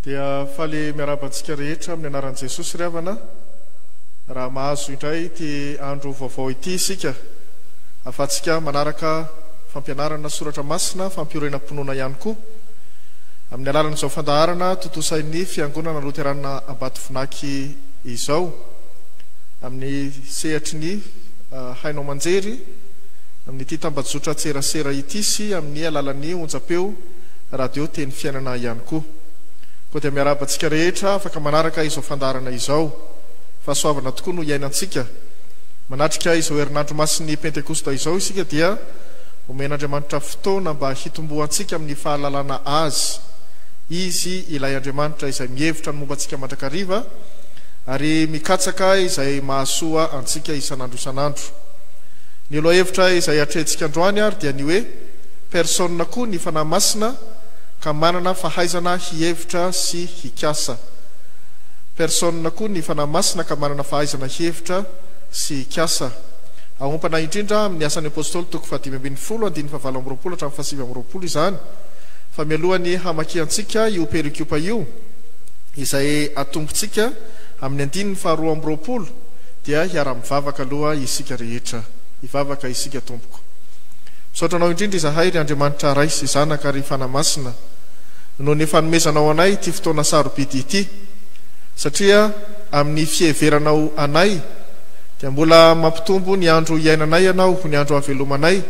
Dia faly miarahaba antsika rehetra amin'ny anaran'i Jesosy ry havana, raha mahazo indray ity andro vaovao ity isika, ahafahantsika manaraka fampianarana soratra masina fampiorenam-pinoana ihany koa, amin'ny alalan'izao fandaharana tontosain'ny Fiangonana Loterana Ambatovinaky izao, amin'ny sehatry ny haino aman-jery, amin'ity tambajotran-tserasera ity sy amin'ny alalan'ny onjam-peo. Radio Teny Fiainana ihany koa. Koa dia miarahaba antsika rehetra afaka manaraka izao fandaharana izao. Fahasoavana tokoa no iainantsika. Manatrika izao herinandro masin'ny Pentekosta izao isika dia omen'Andriamanitra fotoana mba hitomboantsika amin'ny fahalalana Azy. Izy ilay Andriamanitra izay mihevitra ny momba antsika mandrakariva ary mikatsaka izay mahasoa antsika isan'andro isan'andro. Ny lohahevitra izay atrehintsika androany ary dia ny hoe. Persona koa ny Fanahy Masina ka manana fahaizana hihevitra sy hikasa. Persona koa ny Fanahy Masina ka manana fahaizana hihevitra sy hikasa. Aompana indrindra amin'ny Asan'ny Apostoly toko fahadimy ambin'ny folo andininy fahavalo amby roapolo hatramin'ny fahasivy amby roapolo izany fa mialohan'ny hamakiantsika io perikopa io izay atombotsika amin'ny andininy faharoa amby roapolo dia hiara-mivavaka aloha isika rehetra. Hivavaka isika tompoko. Misaotra Anao indrindra izahay, ry Andriamanitra Ray sy Zanaka ary Fanahy Masina, noho ny fanomezanao anay ity fotoana sarobidy ity, satria amin'ny fiheveranao anay dia mbola mampitombo ny andro hiainanay Ianao ho ny andro havelomanay,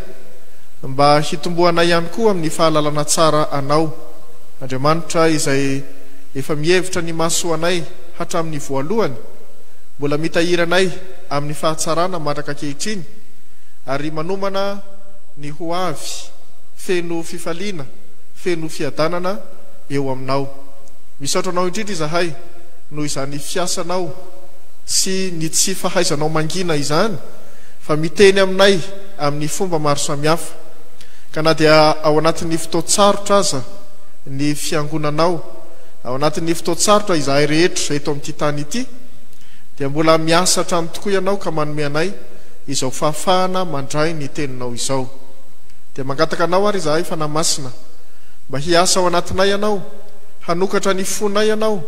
mba hitomboanay ihany koa amin'ny fahalalana tsara Anao, Andriamanitra izay efa mihevitra ny mahasoa anay hatramin'ny voalohany, mbola mitahiry anay amin'ny fahatsarana mandraka ankehitriny, Ary manomana ny ho avy feno fifaliana, feno fiadanana eo aminao. Misaotra anao indrindra izahay noho izany fiasanao sy ny tsy fahaizanao mangina izany fa miteny aminay amin'ny fomba maro samihafa. Ka na dia ao anatin'ny fotoan-tsarotra aza ny fiangonanao, ao anatin'ny fotoan-tsarotra izahay rehetra eto amin'ity tany ity, dia mbola miasa hatrany tokoa ianao ka manome anay izao fahafahana mandray ny Teninao izao. Dia mangataka Anao ary izahay, Fanahy Masina, mba hiasa ao anatinay Ianao, hanokatra ny fonay Ianao,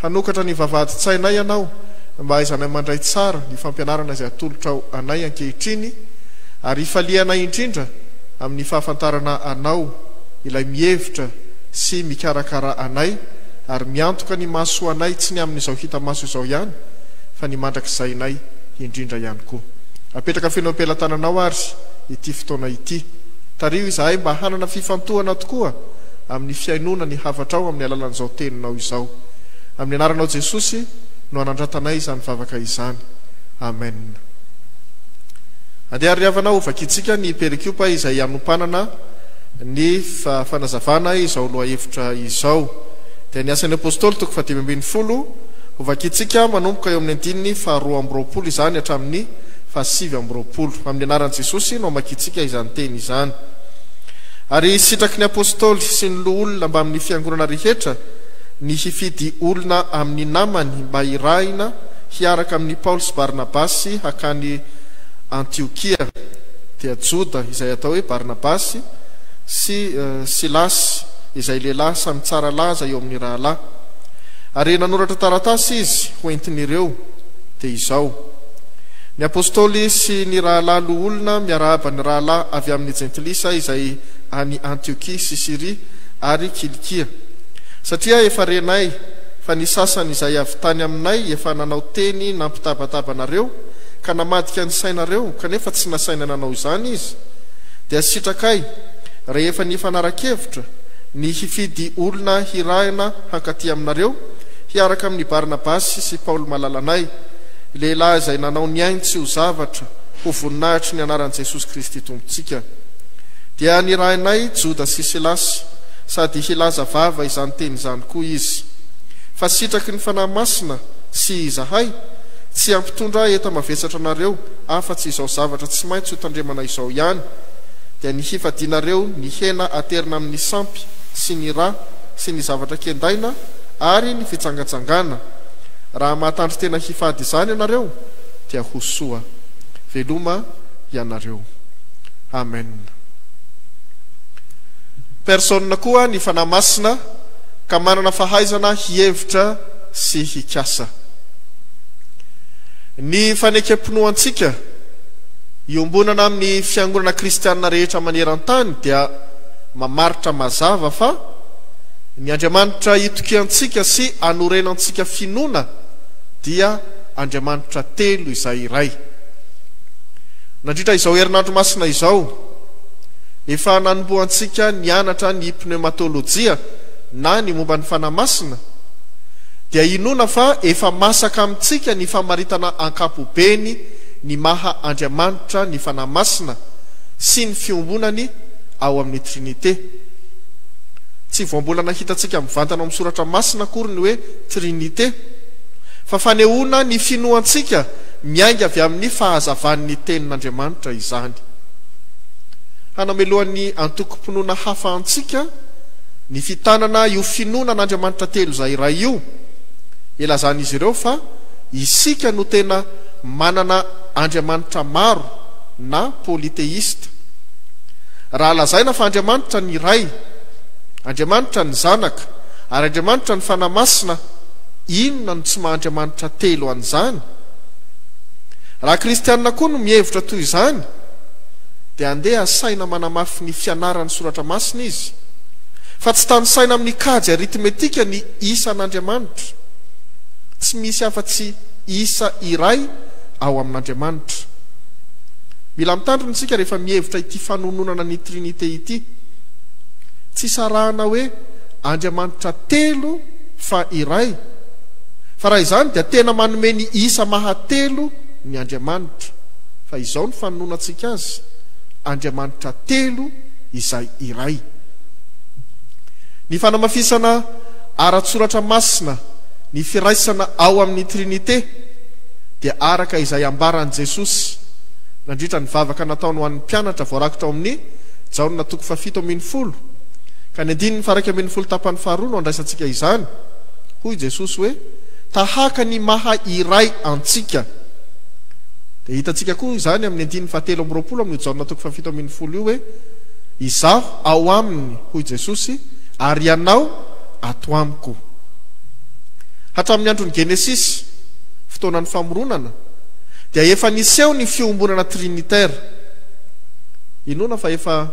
hanokatra ny vavahadin-tsainay Ianao, mba hahaizanay mandray tsara ny fampianarana izay atolotrao anay ankehitriny, ary hifalianay indrindra amin'ny fahafantarana Anao, Ilay mihevitra sy mikarakara anay ary miantoka ny mahasoa anay tsy ny amin'izao hita maso izao ihany, fa ny mandrakizainay. indrindra ihany koa. Apetraka feno am-pelatananao ary ity fotoana ity. Tariho izahay mba hanana fifantohana tokoa amin'ny fihainoana ny hafatrao amin'ny alalan'izao teninao izao. Amin'ny anaranao Jesosy no anandratanay izany vavaka izany. Amen. Andeha ry havana ho vakintsika ny perikopa izay hanompanana ny fanazavana izao lohahevitra izao. Dia ny Asan'ny Apostoly toko fahadimy ambin'ny folo. Hovakintsika manomboka eo amin'ny andininy faharoa amby roapolo izany hatramin'ny fahasivy amby roapolo. Amin'ny anaran'i Jesosy no amakiantsika izany teny izany. Ary sitraky ny apostoly sy ny loholona mbamin'ny fiangonana rehetra ny hifidy olona amin'ny namany mba hirahina hiaraka amin'i Paoly sy Barnabasy hakany Antiokia, dia Joda, izay atao hoe Barnabasy, sy Silasy, izay lehilahy samy tsara laza eo amin'ny rahalahy. Ary nanoratra taratasy izy ho entin'ireo, dia izao, Ny Apôstôly sy ny rahalahy loholona miarahaba ny rahalahy avy amin'ny Jentilisa izay any Antiokia sy Syria ary Kilikia, satria efa renay fa ny sasany izay avy tany aminay efa nanao teny nampitabataba anareo ka namadika ny sainareo kanefa tsy nasaina nanao izany izy, dia sitrakay rehefa nifanara-kevitra ny hifidy olona hirahina hankaty aminareo, hiaraka amin'i Barnabasy sy Paoly malalanay, lehilahy izay nanao ny ainy tsy ho zavatra ho voninahitry ny anaran'i Jesosy Kristy Tompontsika. Dia nirahinay Joda sy Silasy, sady hilaza vava izany teny izany koa izy. Fa sitraky ny Fanahy Masina sy izahay, tsy hampitondra enta-mavesatra anareo afa-tsy izao zavatra tsy maintsy hotandremana izao ihany, dia ny hifadianareo ny hena aterina amin'ny sampy sy ny ra, sy ny zavatra kendaina ary ny fitsangatsangana. Raha mahatandry tena hifady izany ianareo dia ho soa. Veloma ianareo. Amen. Personne koa ny Fanahy Masina ka manana fahaizana hihevitra sy hikasa. Ny fanekem-pinoantsika iombonana amin'ny fiangonana kristianina rehetra maneran-tany dia. mamaritra mazava fa ny Andriamanitra itokiantsika sy anorenantsika finoana dia Andriamanitra telo izay iray. Nandritra izao herinandro masina izao, efa nanombohantsika nianatra ny pneumatolojia na ny momba ny Fanahy Masina, dia inoana fa efa masaka amintsika ny famaritana ankapobeny ny maha Andriamanitra ny Fanahy Masina sy ny fiombonany, ao amin'ny Trinite. Tsy vao mbola nahitantsika mivantana ao amin'ny Soratra Masina akory ny hoe Trinite, fa fanehoana ny finoantsika miainga avy amin'ny fahazavan'ny Tenin'Andriamanitra izany. Hanamelohan'ny antokom-pinoana hafa antsika ny fitanana io finoana an'Andriamanitra telo izay iray io, ilazan'izy ireo fa isika no tena manana andriamanitra maro na polythéiste. Raha lazaina fa Andriamanitra ny Ray, Andriamanitra ny Zanaka, ary Andriamanitra ny Fanahy Masina, inona no tsy maha-Andriamanitra telo an'izany? Raha kristiana koa no mihevitra toy izany, dia andeha asaina manamafy ny fianaran'ny Soratra Masina izy, fa tsy tanisaina amin'ny kajy arithmetika ny isan'Andriamanitra. Tsy misy afa-tsy isa iray ao amin'Andriamanitra. Mila mitandrina isika rehefa mihevitra ity fanononana ny Trinite ity. Tsy sarahana hoe Andriamanitra telo fa iray, fa raha izany dia tena manome ny isa maha telo ny Andriamanitra. Fa izao no fanononantsika Azy, Andriamanitra telo izay iray. Ny fanamafisana ara-tsoratra masina ny firaisana ao amin'ny Trinite dia araka izay ambaran'i Jesosy. nandritra ny vavaka nataony ho an'ny mpianatra voarakitra ao amin'ny Jaona toko fahafito ambin'ny folo, ka ny andininy faharaika ambin'ny folo tapany faharoa no andraisantsika izany, hoy Jesosy hoe, Tahaka ny maha iray antsika. Dia hitantsika koa izany amin'ny andininy fahatelo amby roapolo amin'io Jaona toko fahafito ambin'ny folo io hoe, Izaho ao aminy, hoy Jesosy, ary ianao ato amiko. Hatramin'ny andron'ny Genesisy, fotoanan'ny famoronana, Dia efa niseho ny fiombonana trinitaire. Inoana fa efa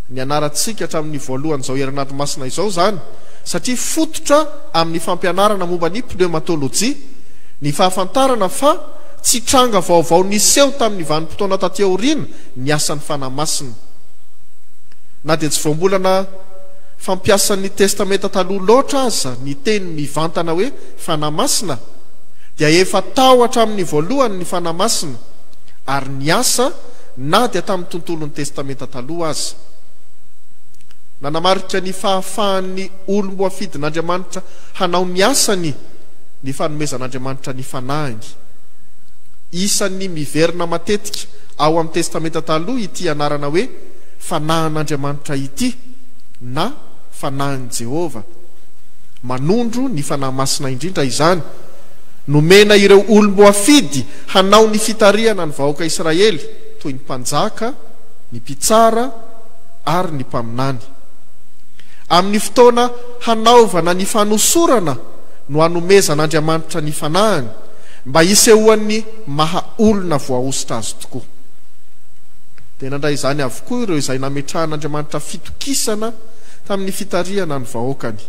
nianarantsika hatramin'ny voalohan'izao herinandro masina izao izany, satria fototra amin'ny fampianarana momba ny pneumatolojia ny fahafantarana fa tsy tranga vaovao niseho tamin'ny vanim-potoana taty aoriana ny asan'ny Fanahy Masina. Na dia tsy vao mbola na fampiasan'ny Testamenta Taloha loatra aza ny teny mivantana hoe Fanahy Masina, dia efa tao hatramin'ny voalohany ny Fanahy Masina ary niasa na dia tamin'ny tontolon'ny Testamenta Taloha aza. Nanamarika ny fahafahan'ny olom-boafidin'Andriamanitra hanao ny asany ny fanomezan'Andriamanitra ny Fanahiny. Isan'ny miverina matetika ao amin'ny Testamenta Taloha ity anarana hoe Fanahin'Andriamanitra ity na Fanahin'i Jehovah. Manondro ny Fanahy Masina indrindra izany. Nomena ireo olom-boafidy hanao ny fitarihana ny vahoaka Israely, toy ny mpanjaka, ny mpitsara, ary ny mpaminany. Amin'ny fotoana hanaovana ny fanosorana no anomezan'Andriamanitra ny Fanahiny, mba hisehoan'ny maha olona voahosotra Azy tokoa. Dia nandray izany avokoa ireo izay nametrahan'Andriamanitra fitokisana tamin'ny fitarihana ny vahoakany.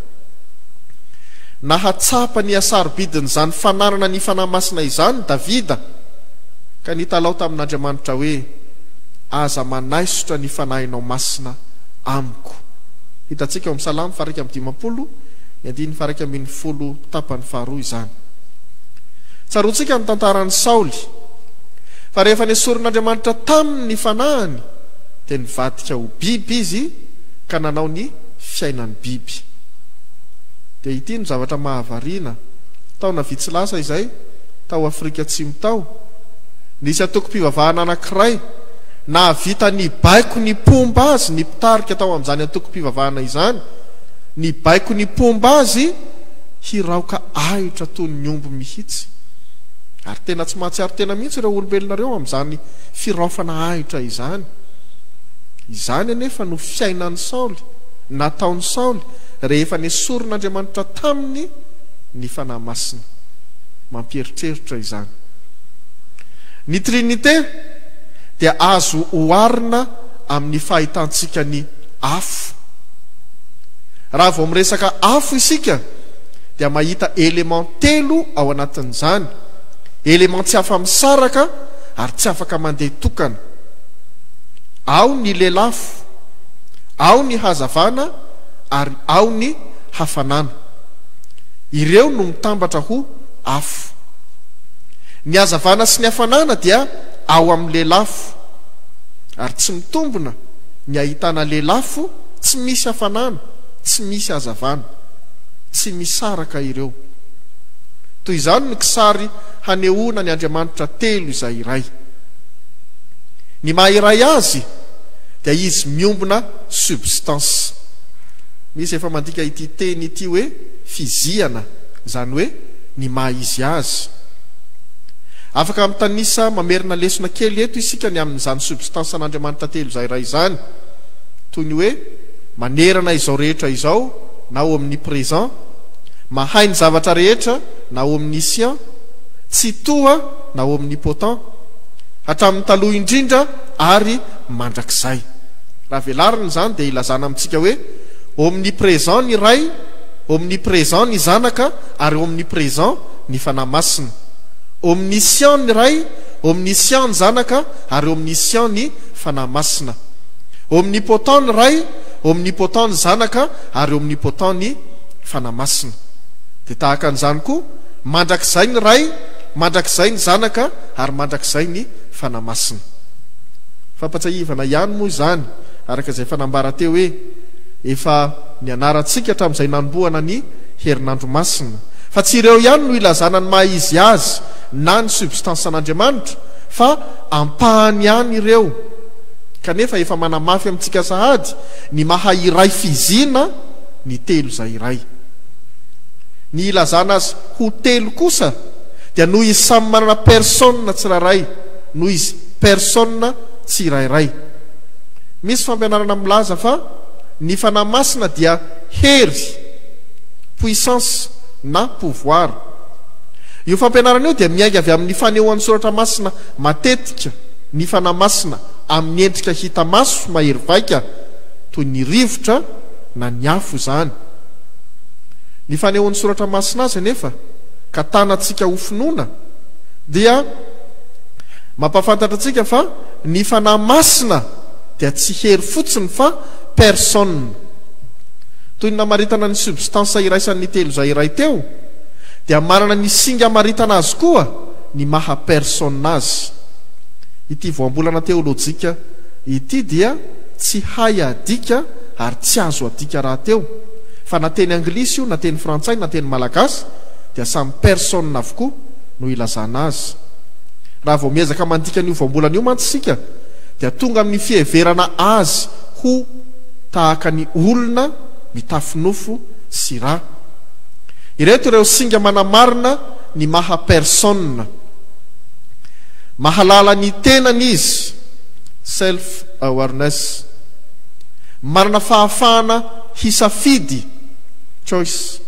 Nahatsapa ny hasarobidin'izany fananana ny Fanahy Masina izany Davida, ka nitalaho tamin'Andriamanitra hoe, Aza manaisotra ny Fanahinao Masina amiko. Hitantsika ao amin'ny Salamo faha iraika amby dimampolo, ny andininy faha iraika ambin'ny folo tapany faharoa izany. Tsaroantsika ny tantaran'i Saoly, fa rehefa nesorin'Andriamanitra taminy ny fanahiny, dia nivadika ho biby izy, ka nanao ny fiainan'ny biby. Dia ity no zavatra mahavariana, taona vitsy lasa izay, tao Afrika Atsimo tao, nisy antokom-pivavahana anankiray nahavita nibaiko ny mpomba azy ny mpitarika tao amin'izany antokom-pivavahana izany, nibaiko ny mpomba azy hiraoka ahitra toy ny omby mihitsy. Ary tena tsy mahatsiaro tena mihitsy ireo olombelona ireo amin'izany firaofana ahitra izany. Izany anefa no fiainan'i Saoly, nataon'i Saoly, rehefa nesorin'Andriamanitra taminy ny Fanahy Masina. Mampieritreritra izany. Ny Trinite dia azo oharina amin'ny fahitantsika ny afo. Raha vao miresaka afo isika dia mahita éléments telo ao anatin'izany, éléments tsy afa-misaraka ary tsy afaka mandeha tokana. Ao ny lelafo, ao ny hazavana ary ao ny hafanana. Ireo no mitambatra ho afo. Ny hazavana sy ny hafanana dia ao amin'ny lelafo. Ary tsy mitombina ny ahitana lelafo tsy misy hafanana, tsy misy hazavana. Tsy misaraka ireo. Toy izany ny kisary hanehoana ny Andriamanitra telo izay iray. Ny maha iray azy dia izy miombona substance. Misy efa mandika ity teny ity hoe fizihana, izany hoe ny maha izy azy. Afaka mitanisa mamerina lesona kely eto isika ny amin'izany substance an'Andriamanitra telo izay iray izany. Toy ny hoe manerana izao rehetra izao na omnipresent, mahay ny zavatra rehetra na omniscient, tsitoha na omnipotent. hatramin'ny taloha indrindra ary mandrakizay. Raha velarina izany dia ilazana amintsika hoe omnipresent ny Ray, omnipresent ny Zanaka ary omnipresent ny Fanahy Masina. Omniscient ny Ray, omniscient ny Zanaka ary omniscient ny Fanahy Masina. Omnipotent ny Ray, omnipotent ny Zanaka ary omnipotent ny Fanahy Masina. Dia tahaka an'izany koa, mandrakizay ny Ray, mandrakizay ny Zanaka ary mandrakizay ny Fanahy Masina. Fampatsiahivana ihany moa izany, araka izay efa nambara teo hoe efa nianarantsika hatramin'izay nanombohana ny Herinandro Masina, fa tsy ireo ihany no ilazana ny maha izy azy na ny substance-n'Andriamanitra, fa ampahany ihany ireo, kanefa efa manamafy amintsika sahady ny maha iray fizina ny telo izay iray. Ny ilazana azy ho telo kosa dia noho izy samy manana persona tsirairay, noho izy persona tsirairay. Misy fampianarana milaza fa ny Fanahy Masina dia hery, puissance, na pouvoir. Io fampianarana io dia miainga avy amin'ny fanehoan'ny Soratra Masina matetika ny Fanahy Masina amin'ny endrika hita maso mahery vaika toy ny rivotra na ny afo izany. Ny fanehoan'ny Soratra Masina azy anefa, ka tanantsika ho finoana, dia mampahafantatra antsika fa ny Fanahy Masina dia tsy hery fotsiny fa personne. Toy ny namaritana ny substance iraisan' ny telo izay iray teo, dia manana ny singa amaritana azy koa ny maha personne azy. Ity voambolana teolojika ity dia tsy hay adika ary tsy azo adika rahateo. Fa na teny anglisy io na teny frantsay na teny malagasy dia samy personne avokoa no ilazana azy. Raha vao miezaka mandika an'io voambolana io mantsy isika dia tonga amin'ny fiheverana azy ho tahaka ny olona mitafy nofo sy ra. Ireto ireo singa manamarina ny maha personne. Mahalala ny tenany izy, self awareness. Manana fahafahana hisafidy, choice.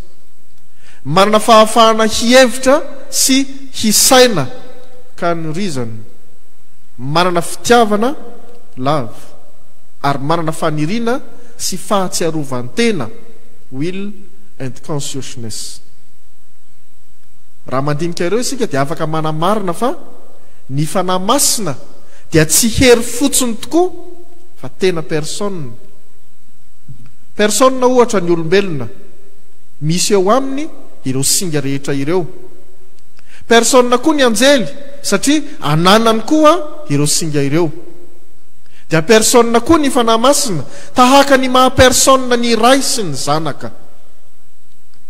Manana fahafahana hihevitra sy hisaina, can reason. Manana fitiavana, love, ary manana faniriana sy fahatsiarovan-tena, will and consciousness. Raha mandinika ireo isika dia afaka manamarina fa ny Fanahy Masina dia tsy hery fotsiny tokoa fa tena personne. Persona ohatra ny olombelona, misy eo aminy ireo singa rehetra ireo. Persona koa ny anjely satria ananany koa ireo singa ireo. Dia persona koa ny Fanahy Masina tahaka ny maha persona ny Ray sy ny Zanaka.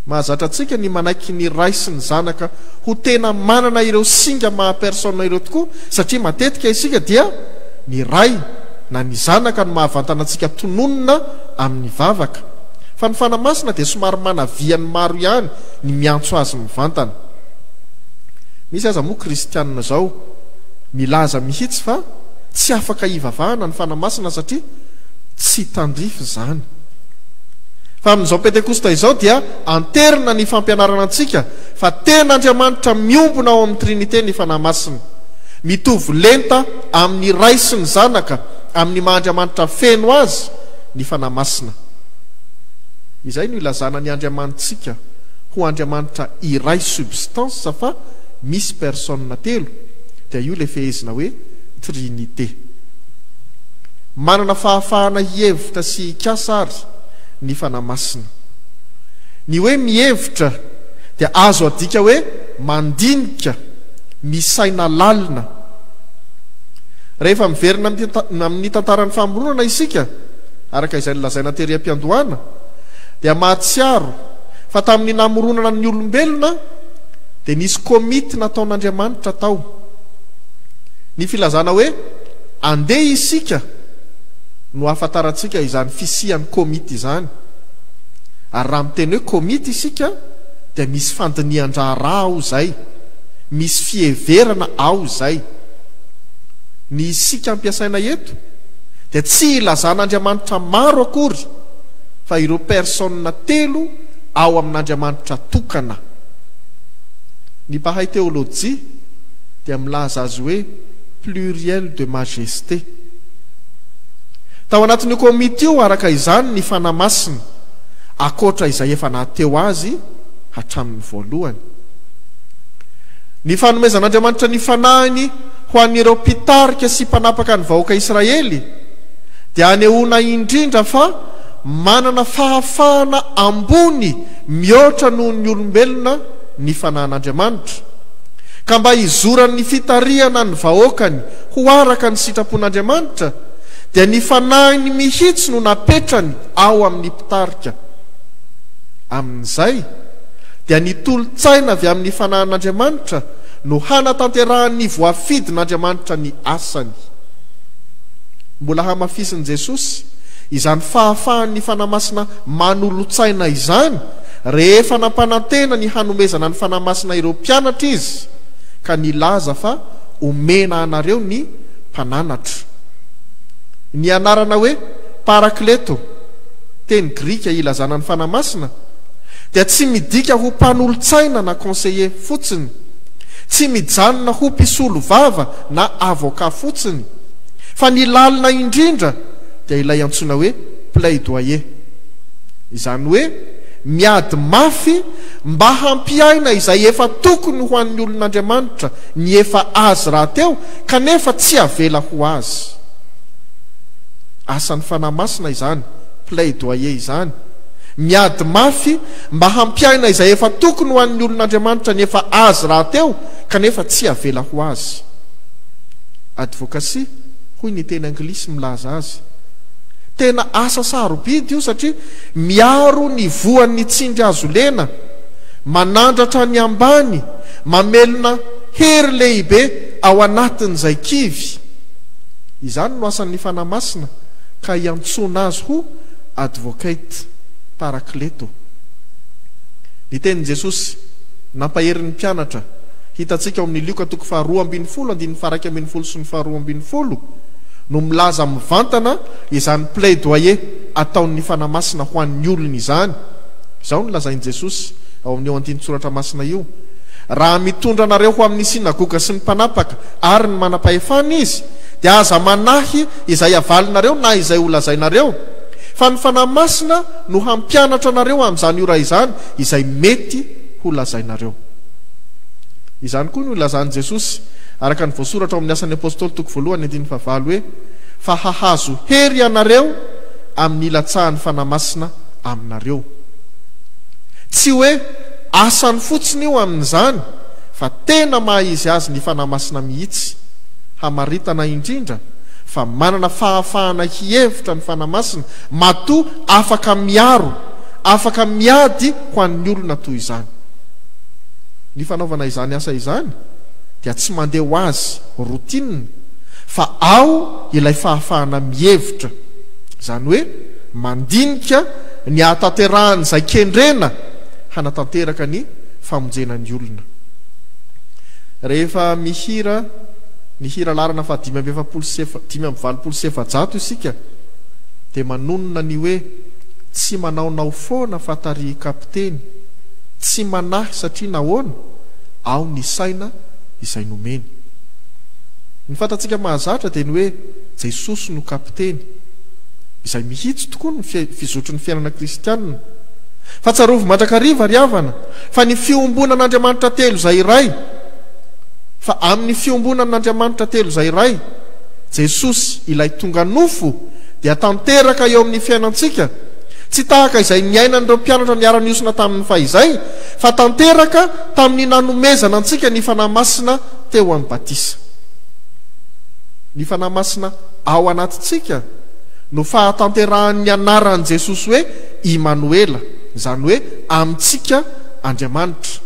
Mahazatra antsika ny manaiky ny Ray sy ny Zanaka ho tena manana ireo singa maha persona ireo tokoa satria matetika isika dia ny Ray na ny zanaka no mahavantana antsika tononina amin'ny vavaka, fa ny Fanahy Masina dia somary manavia ny maro ihany ny miantso azy mivantana. Misy aza moa kristiana izao milaza mihitsy fa tsy afaka hivavahana ny Fanahy Masina satria tsy tandrify izany. Fa amin'izao Pentekosta izao dia anterina ny fampianarana antsika fa tena Andriamanitra miombona ao amin'ny Trinite ny Fanahy Masina. Mitovy lenta amin'ny Ray sy ny Zanaka, amin'ny maha Andriamanitra feno Azy ny Fanahy Masina. Izay no ilazana ny Andriamanitsika ho Andriamanitra iray substance fa misy personnes telo, dia io ilay fehezina hoe Trinite. Manana fahafahana hihevitra sy hikasa ary ny Fanahy Masina. Ny hoe mihevitra dia azo adika hoe mandinika, misaina lalina, Rehefa miverina amin'ny tantaran'ny famoronana isika, araka izay nolazaina tery am-piandohana, dia mahatsiaro fa tamin'ny namoronana ny olombelona dia nisy komity nataon'Andriamanitra tao. Ny filazana hoe andeha isika no ahafantarantsika izany fisian'ny komity izany. Ary raha miteny hoe komity isika dia misy fandinihan-draharaha ao izay. Misy fiheverana ao izay. Ny isika ampiasaina eto dia tsy hilazana andriamanitra maro akory fa ireo personnes telo ao amin'Andriamanitra tokana. Ny mpahay teolojia dia milaza azy hoe pluriel de majesté. Tao anatin'io komity io araka izany ny Fanahy Masina, ankoatra izay efa naha-teo azy hatramin'ny voalohany. Ny fanomezan'Andriamanitra ny fanahiny ho an'ireo mpitarika sy mpanapaka ny vahoaka Israely dia anehoana indrindra fa manana fahafahana ambony mihoatra noho ny olombelona ny fanahin'Andriamanitra, ka mba hizoran'ny fitarihana ny vahoakany ho araka ny sitrapon'Andriamanitra dia ny fanahiny mihitsy no napetrany ao amin'ny mpitarika. Amin'izay. dia ny tolo-tsaina avy amin'ny fanahin'Andriamanitra no hanatanterahan'ny voafidin'Andriamanitra ny asany. Mbola hamafisin'i Jesosy izany fahafahan'ny Fanahy Masina manolo-tsaina izany rehefa nampanantena ny hanomezana ny Fanahy Masina ireo mpianatra izy ka nilaza fa omena anareo ny Mpananatra. Ny anarana hoe Parakleto, teny grika ilazana ny Fanahy Masina, dia tsy midika ho mpanolotsaina na conseiller fotsiny, tsy mijanona ho mpisolovava na avocat fotsiny, fa ny lalina indrindra dia ilay antsoina hoe plaidoyer. Izany hoe miady mafy mba hampiaina izay efa tokony ho an'ny olon'Andriamanitra ny efa azy rahateo kanefa tsy avela ho azy. Asan'ny Fanahy Masina izany plaidoyer izany, Miady mafy mba hampiaina izay efa tokony ho an'ny olon'Andriamanitra nefa azy rahateo kanefa tsy avela ho azy. Advocacy hoy ny teny anglisy milaza azy. Tena asa sarobidy io satria miaro ny voan'ny tsindry azo lena, manandratra ny ambany, mamelona hery lehibe ao anatin'izay kivy. Izany no asan'ny Fanahy Masina ka iantsoana azy ho Advocate Parakleto. Ny tenin'i Jesosy, nampahery ny mpianatra, hitantsika ao amin'ny Lioka toko faharoa ambin'ny folo andininy faharaika ambin'ny folo sy ny faharoa ambin'ny folo, no milaza mivantana izany plaidoyer ataon'ny Fanahy Masina ho an'ny olony izany. Izao no lazain'i Jesosy ao amin'io andinin-tsoratra masina io, Raha mitondra anareo ho amin'ny sinagoga sy ny mpanapaka ary ny manam-pahefana izy, dia aza manahy izay havalinareo na izay ho lazainareo, fa ny Fanahy Masina no hampianatra anareo amin'izany ora izany izay mety ho lazainareo. Izany koa no ilazan'i Jesosy, araka ny voasoratra ao amin'ny Asan'ny Apostoly toko voalohany andininy fahavalo hoe, Fa hahazo hery ianareo amin'ny hilatsahan'ny Fanahy Masina aminareo. Tsy hoe asany fotsiny io amin'izany, fa tena maha-izy azy ny Fanahy Masina mihitsy. Hamaritana indrindra fa manana fahafahana hihevitra ny Fanahy Masina matoa afaka miaro, afaka miady ho an'ny olona toy izany. Ny fanaovana izany asa izany dia tsy mandeha ho azy routine fa ao ilay fahafahana mihevitra, izany hoe mandinika ny hahatanterahan'izay kendrena hanatanteraka ny famonjena ny olona. Rehefa mihira ny hira laharana fahadimy amby efapolo sy dimy amby valopolo sy efajato isika dia manonona ny hoe tsy manaonao foana fa tarihy kapiteny, tsy manahy satria nahoana? ao ny saina izay nomeny. Ny fantatsika mahazatra dia ny hoe Jesosy no kapiteny, izay mihitsy tokoa ny fizotry ny fiainana kristianina. Fa tsarovy mandrakariva ry havana! Fa ny fiombonan' Andriamanitra telo izay iray, fa amin' ny fiombonan' Andriamanitra telo izay iray, Jesosy, ilay tonga nofo, dia tanteraka eo amin' ny fiainantsika, tsy tahaka izay niainan' ireo mpianatra niara-niosona tamin' ny fahizay, fa tanteraka tamin' ny nanomezana antsika ny Fanahy Masina teo amin' ny batisa. Ny Fanahy Masina ao anatintsika no fahatanterahan' ny anaran' Jesosy hoe Imanoela, izany hoe, amintsika Andriamanitra.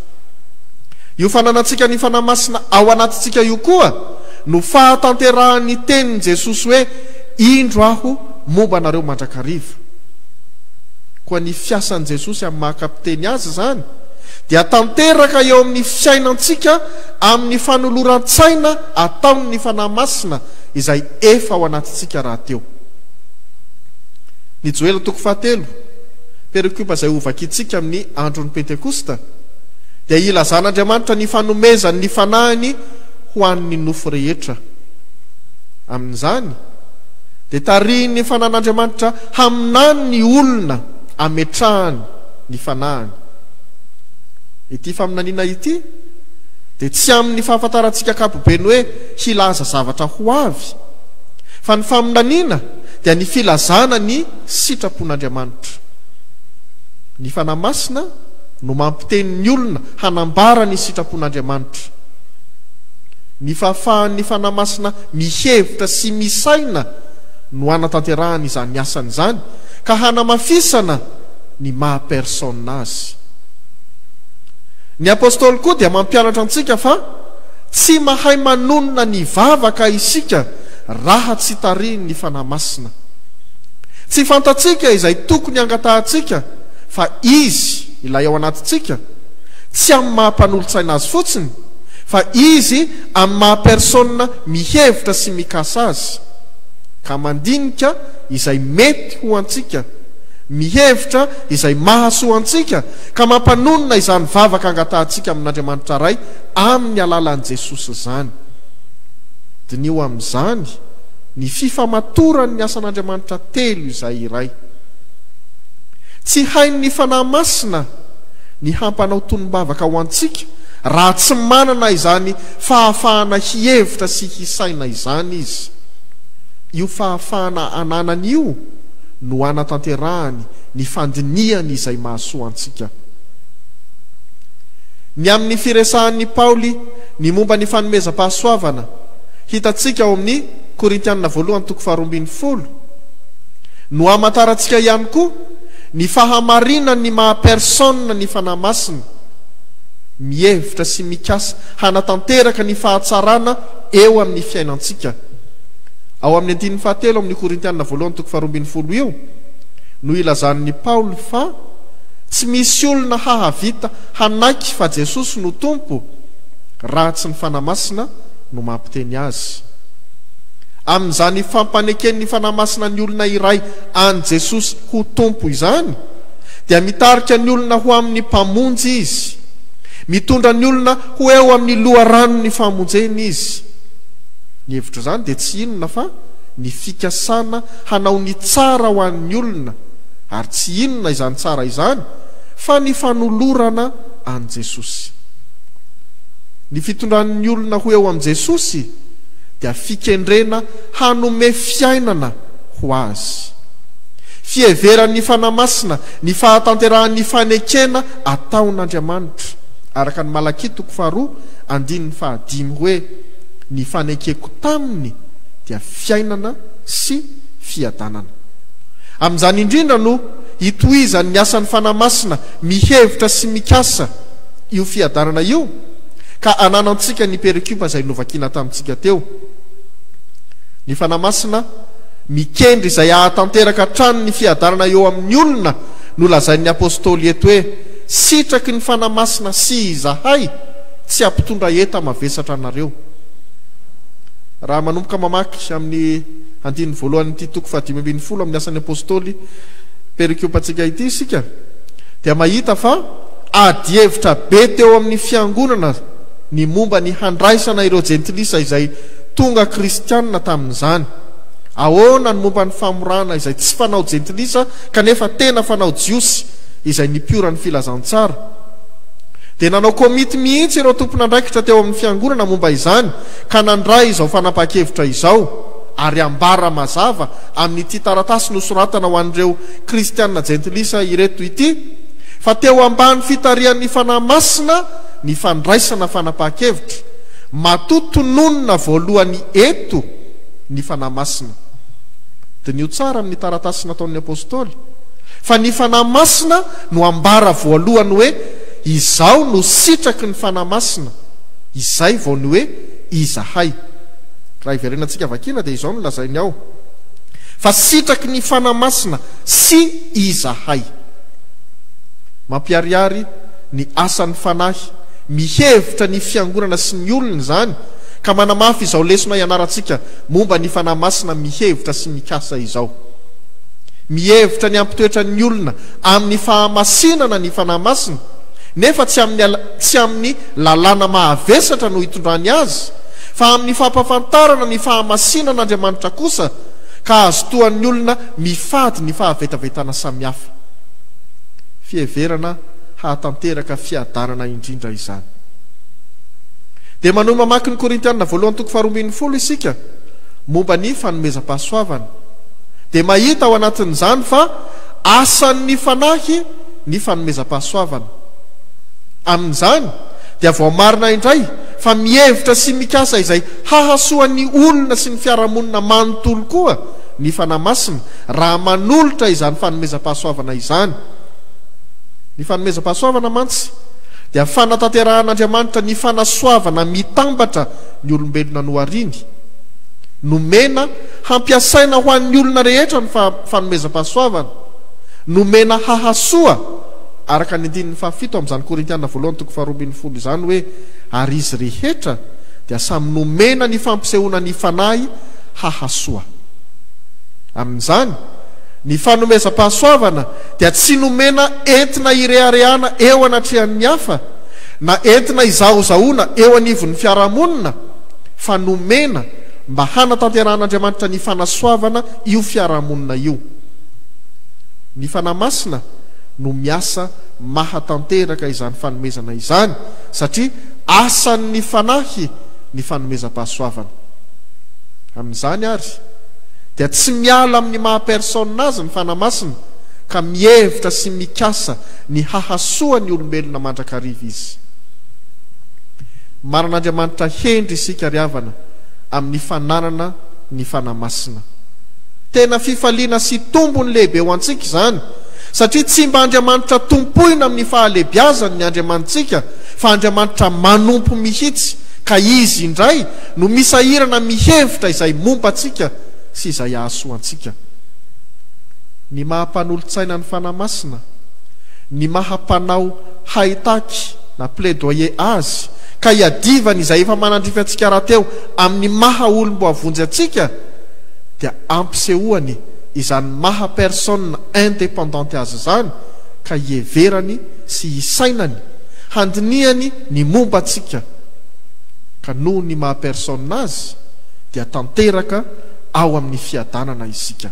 Io fananantsika ny Fanahy Masina ao anatintsika io koa no fahatanterahan'ny tenin'i Jesosy hoe, Indro aho momba anareo mandrakariva. Koa ny fiasan'i Jesosy amin'ny maha kapiteny Azy izany dia tanteraka eo amin'ny fiainantsika amin'ny fanoloran-tsaina ataon'ny Fanahy Masina izay efa ao anatintsika rahateo. Ny Joela toko fahatelo. Perikopa izay hovakintsika amin'ny andron'ny Pentekosta dia ilazan'Andriamanitra ny fanomezany ny Fanahiny ho an'ny nofo rehetra. Amin'izany dia tarihin'ny Fanan'Andriamanitra haminany ny olona ametrahany ny Fanahiny. Ity faminaniana ity dia tsy amin'ny fahafantarantsika ankapobeny hoe hilaza zavatra ho avy, fa ny faminaniana dia ny filazana ny sitrapon'Andriamanitra. Ny Fanahy Masina no mampiteny ny olona hanambara ny sitrapon'Andriamanitra. Ny fahafahan'ny Fanahy Masina mihevitra sy misaina no hanatanterahany izany asany izany ka hanamafisana ny maha personne azy. Ny Apostoly koa dia mampianatra antsika fa tsy mahay manonona ny vavaka isika raha tsy tarihin'ny Fanahy Masina. Tsy fantatsika izay tokony hangatahantsika fa Izy ilay ao anatintsika, tsy amin'ny maha mpanolotsaina Azy fotsiny, fa Izy amin'ny maha persona mihevitra sy mikasa Azy, ka mandinika izay mety ho antsika, mihevitra izay mahasoa antsika, ka mampanonona izany vavaka angatahantsika amin'Andriamanitra Ray amin'ny alalan'i Jesosy izany. Diniho amin'izany. Ny fifamatoran' ny asan' Andriamanitra telo izay iray. Tsy hain' ny Fanahy Masina ny hampanao tonom-bavaka ho antsika raha tsy manana izany fahafahana hihevitra sy hisaina izany Izy. Io fahafahana ananany io no anatanterahany ny fandinihany izay mahasoa antsika. Ny amin' ny firesahan' i Paoly ny momba ny fanomezam-pahasoavana, Hitantsika ao amin'ny Korintianina voalohany toko faharoa ambin'ny folo no amantarantsika ihany koa ny fahamarinan'ny maha personne ny Fanahy Masina, mihevitra sy mikasa hanatanteraka ny fahatsarana eo amin'ny fiainantsika. Ao amin'ny andininy fahatelo amin'ny Korintianina voalohany toko faharoa ambin'ny folo io no ilazan'ny Paoly fa tsy misy olona hahavita hanaiky fa Jesosy no Tompo raha tsy ny Fanahy Masina no mampiteny azy. Amin'izany fampaneken'ny Fanahy Masina ny olona iray an'i Jesosy ho Tompo izany, dia mitarika ny olona ho amin'ny Mpamonjy Izy. Mitondra ny olona ho eo amin'ny loharanon'ny famonjena Izy. Ny hevitr'izany dia tsy inona fa ny fikasana hanao ny tsara ho an'ny olona, ary tsy inona izany tsara izany fa ny fanolorana an'i Jesosy. Ny fitondran'ny olona ho eo amin'i Jesosy dia fikendrena hanome fiainana ho Azy. Fiheveran'ny Fanahy Masina ny fahatanterahan'ny fanekena ataon'Andriamanitra, araka ny Malakia toko faharoa andininy fahadimy hoe, Ny fanekeko taminy dia fiainana sy fiadanana. Amin'izany indrindra no hitohizan'ny asan'ny Fanahy Masina mihevitra sy mikasa, io fiadanana io ka ananantsika ny pericube izay novakina tamintsika teo. Ny Fanahy Masina mikendry izay hahatanteraka hatrany ny fiadanana eo amin'ny olona nolazain'ny Apostoly eto hoe, Sitraky ny Fanahy Masina sy izahay tsy hampitondra enta mavesatra anareo. Raha manomboka mamaky amin'ny andininy voalohan'ity toko fahadimy ambin'ny folo amin'ny Asan'ny Apostoly pericube-ntsika ity isika dia mahita fa Adihevitra be teo amin'ny Fiangonana ny momba ny handraisana ireo Jentilisa izay tonga kristianina tamin'izany. Ahoana ny momba ny famorana izay tsy fanao Jentilisa kanefa tena fanao Jiosy izay nipiora ny Filazantsara? Dia nanao komity mihitsy ireo tompon'andraikitra teo amin'ny Fiangonana momba izany ka nandray izao fanapahan-kevitra izao, Ary ambara mazava amin'ity taratasy nosoratana ho an'ireo Kristianina Jentilisa ireto ity, Fa teo ambany fitarihan'ny Fanahy Masina ny fandraisana fanapahan-kevitra, matoa tononina voalohany eto ny Fanahy Masina. Diniho tsara amin'ny taratasy nataon'ny Apostoly, fa ny Fanahy Masina no ambara voalohany hoe Izaho no sitraky ny Fanahy Masina, izay vao ny hoe Izahay. Raha hiverenantsika vakiana dia izao no lazainy ao, Fa sitraky ny Fanahy Masina sy Izahay. Mampiharihary ny asan'ny Fanahy mihevitra ny Fiangonana sy ny olony izany, ka manamafy izao lesona ianarantsika momba ny Fanahy Masina mihevitra sy mikasa izao. Mihevitra ny hampitoetra ny olona amin'ny fahamasinana ny Fanahy Masina, nefa tsy amin'ny tsy amin'ny lalàna mahavesatra no itondrany azy, fa amin'ny fampafantarana ny fahamasinan'Andriamanitra kosa, ka azotoan'ny olona mifady ny fahavetavetana samihafa. fiheverana hahatanteraka fiadanana indrindra izany. Dia manohy mamaky ny Korintiana voalohany toko faharoa ambin'ny folo isika momba ny fanomezam-pahasoavana, dia mahita ao anatin'izany fa asan'ny Fanahy ny fanomezam-pahasoavana. Amin'izany dia voamarina indray fa mihevitra sy mikasa izay hahasoa ny olona sy ny fiarahamonina manontolo koa ny Fanahy Masina, Raha manolotra izany fanomezam-pahasoavana izany. Ny fanomezam-pahasoavana mantsy dia fanatanterahan'Andriamanitra ny fanasoavana mitambatra ny olombelona nohariany. Nomena hampiasaina ho an'ny olona rehetra ny fanomezam-pahasoavana, nomena hahasoa, araka ny andininy fahafito amin'izany Korintiana voalohany toko faharoa ambin'ny folo izany hoe, Ary izy rehetra dia samy nomena ny fampisehoana ny Fanahy hahasoa. Amin'izany, ny fanomezam-pahasoavana dia tsy nomena entina hireharehana eo anatrehan'ny hafa, na entina hizahozahoana eo anivon'ny fiarahamonina, fa nomena mba hanatanterahan'Andriamanitra ny fanasoavana io fiarahamonina io. Ny Fanahy Masina no miasa mahatanteraka izany fanomezana izany, satria asan'ny Fanahy ny fanomezam-pahasoavana. Amin'izany àry, dia tsy miala amin'ny maha-personne azy ny Fanahy Masina ka mihevitra sy mikasa ny hahasoa ny olombelona mandrakariva izy. Manan'Andriamanitra hendry isika ry havana amin'ny fananana ny Fanahy Masina. Tena fifaliana sy tombony lehibe ho antsika izany satria tsy mba Andriamanitra tompoina amin'ny fahalebiazany ny Andriamanitsika fa Andriamanitra manompo mihitsy ka Izy indray no misahirana mihevitra izay momba antsika sy izay hahasoa antsika. Ny maha mpanolotsaina ny Fanahy Masina, ny maha mpanao haitaky na plaidoyer Azy ka hiadivany izay efa manandrify antsika rahateo amin'ny maha olom-boavonjy antsika dia ampisehoany izany maha personne indépendante azy izany ka hiheverany sy hisainany handinihany ny momba antsika. ka noho ny maha personne azy dia tanteraka ao amin'ny fiadanana isika.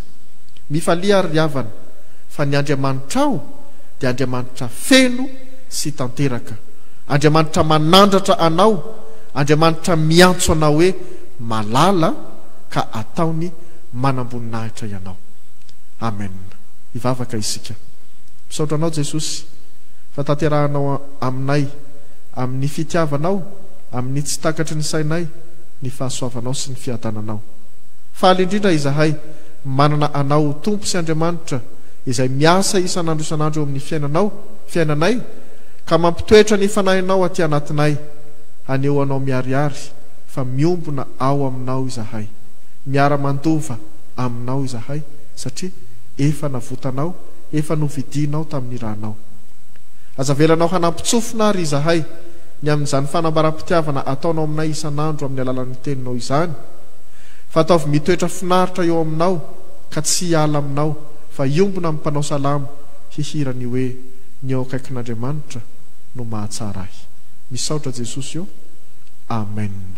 Mifalia ary ry havana fa ny Andriamanitrao dia Andriamanitra feno sy tanteraka, Andriamanitra manandratra anao, Andriamanitra miantso anao hoe malala ka ataony manamboninahitra ianao. Amen. Hivavaka isika. Misaotra Anao Jesosy fa tanterahanao aminay amin'ny fitiavanao, amin'ny tsy takatry ny sainay ny fahasoavanao sy ny fiadananao. Faly indrindra izahay manana anao ho Tompo sy Andriamanitra izay miasa isan'andro isan'andro eo amin'ny fiainanao, fiainanay, ka mampitoetra ny Fanahinao aty anatinay. Haneho anao miharihary fa miombona ao aminao izahay. Miara-mandova aminao izahay satria efa navotanao, efa novidianao tamin'ny ranao. Aza avelanao hanampintsofina àry izahay. ny amin'izany fanambaram-pitiavana ataonao aminay isan'andro amin'ny alalan'ny Teninao izany, fa ataovy mitoetra finaritra eo aminao ka tsy hiala aminao, fa hiombona amin'ny mpanao salamo hihira ny hoe, Ny eo akaikin'Andriamanitra no mahatsara ahy. Misaotra Jesosy ô! Amen.